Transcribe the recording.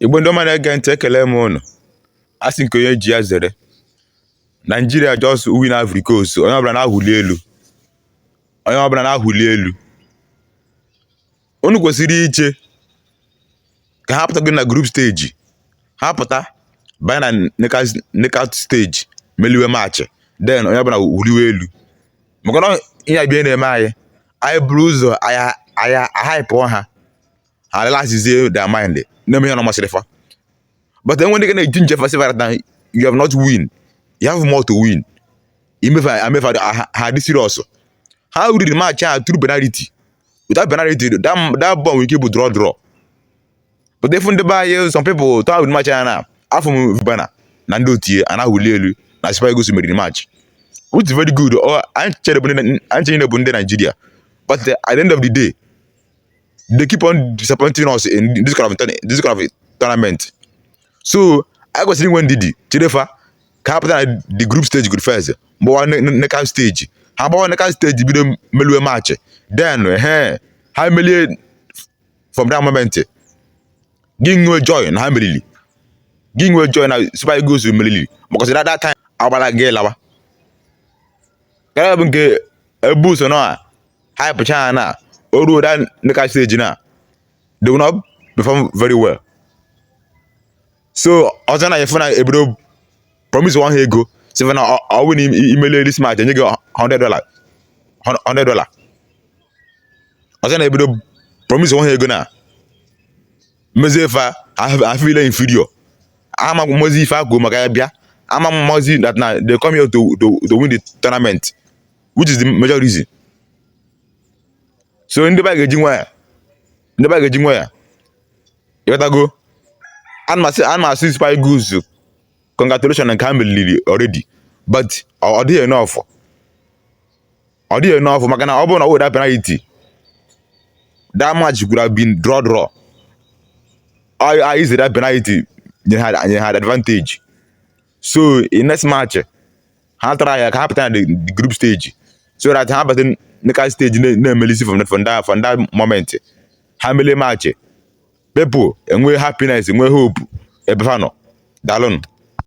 igbo ndị ọma na-ege ntị ekele m ụnụ a sị nke onye ji ya zere naijiria just win Ivory Coast onye ọbụla na-awụli elu onye ọbụla na-awụli elu unu kwesịrị iche ka ha pụtago na group stage ha pụta banye na knockout stage meliwe match then onye ọbụla wụliwe elu maka na ihe a bịa na-eme anyị anyị buru ụzọ anyị ahaịpụọ ha ha relaxizie their mind na-eme ihe na masịrị fa but enwe ndị ga na-e ginger fa sị fa na you have not win you have more to win ime fa a mee fa ha dị serious ha riri match a through penalty without penalty that, that ball nwere ike bụ draw draw but ị fụ ndị be anyị some people to ahụ match anya na afụ m Cubana na ndị otu ya na-awụli elu na Super Eagles meriri match which is very good anyị ncha bụ ndị Naijiria but at the end of the day they keep on disappointing us in this kind of this kind of tournament so i kwesịrị inwe ndidi chere fa ka ha pụta na the group stage godu first bawa knockout stage ha bawa knockout stage bido meliwe match then he ha melie from that moment gị nwee joy na ha meriri gị nwee joy na Super Eagles meriri because at that time agbara gị lawa karịa bụ nke e bu ụzọ na hypechaa na o ruo that knockout stage now they will not perform very well. So ọzọ na ị fụ na ebido promise wa ha ego sị na ọ wụ na i melie this match enye gị 100 dollar 100 dollar ọzọ na ebido promise wa ha ego now mezie fa a feel inferior amamọzị ife ha ji maka ya bịa amamọzị that na they come here to to to win the tournament which is the major reason so ndị be anyị ga-eji nwayọ ndị be anyị ga-eji nwayọ ị ghọtago ana m asị Super Eagles congratulation nke ha meriri already but ọ dịghị enough ọ dịghị enough maka na ọ bụrụ na without penalty that match could have been draw draw ha, ha use that penalty nye ha, nye ha advantage so in next match ha try-a ka ha pụta na the the group stage so that ha bata knockout stage na- na-emelisi from from that from that moment ha melie match people enwee happiness enwee hope ebe ha nọ daalụnụ